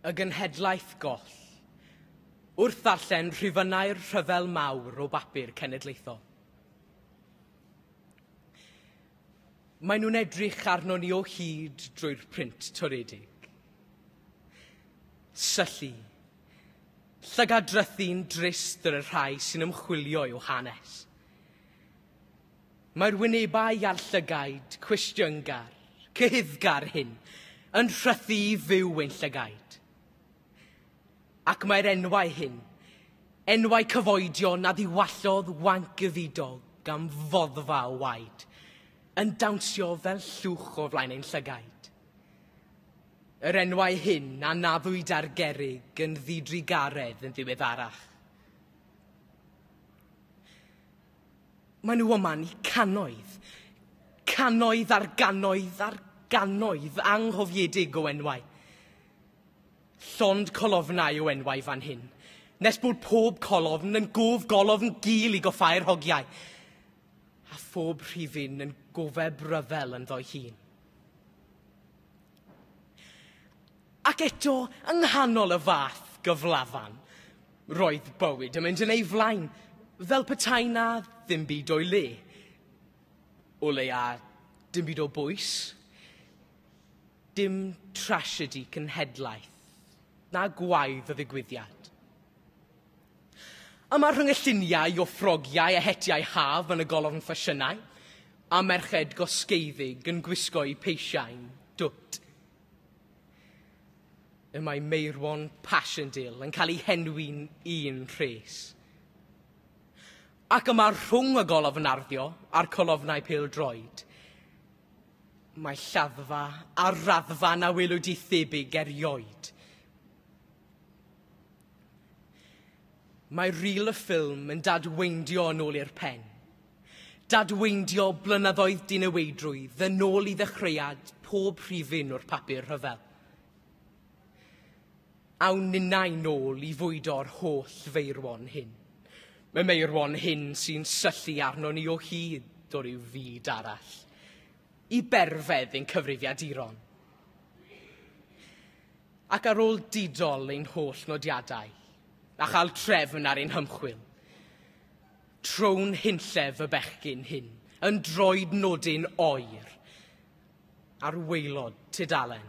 Y genhedlaeth goll. Wrth ddarllen rhifynnau'r rhyfel mawr o bapur cenedlaethol. Maen nhw'n edrych arno ni o hyd drwy'r print toredig. Syllu. Llygad drythu'n drist yr y rhai sy'n ymchwilio i'w hanes. Mae'r wynebau a'r llygaid cwestiyngar, cyhuddgar hyn yn rhythu i fyw ein llygaid. Ac mae'r enwau hyn, enwau cyfoedion a ddiwallodd wanc y ddidog gan foddfa o waed, yn dawnsio fel llwch o flaen ein llygaid. Yr enwau hyn a naddwyd ar gerig yn ddidrugaredd yn ddiweddarach. Maen nhw yma ni cannoedd, cannoedd ar gannoedd ar gannoedd anghofiedig o enwau. Llond colofnau o enwau fan hyn, nes bod pob colofn yn gof golofn gul i goffau'r hogiau, a phob rhifyn yn gofeb ryfel ynddo'i hun. Ac eto, yng nghanol y fath gyflafan, roedd bywyd yn mynd yn ei flaen, fel petai 'na ddim byd o'i le. O leia, dim byd o bwys. Dim trasiedi cenhedlaeth, na gwaedd o ddigwyddiad. Yma rhwng y lluniau o ffrogiau a hetiau haf yn y golofn ffasiynau, a merched gosgeiddig yn gwisgo'u peisiau dwt Y mae Meirwon Passchendaele yn cael ei henwi'n un rhes. Ac yma rhwng y golofn narddio a'r colofnau pêl-droed, mae lladdfa a raddfa na welwyd i thebyg erioed. Mae ril y ffilm yn dadweindio yn ôl i'r pen. Dadweindio blynyddoedd diniweidrwydd yn ôl i ddechreuad pob rhifyn o'r papur rhyfel. Awn ninnau nôl i fwydo'r holl feirwon hyn. Y meirwon hyn sy'n syllu arno ni o hyd o ryw fyd arall. I berfedd ein cyfrifiaduron. Ac ar ôl didol ein holl nodiadau, a chael trefn ar ein hymchwil, Tro'n hunllef y bechgyn hyn yn droed nodyn oer ar waelod tudalen.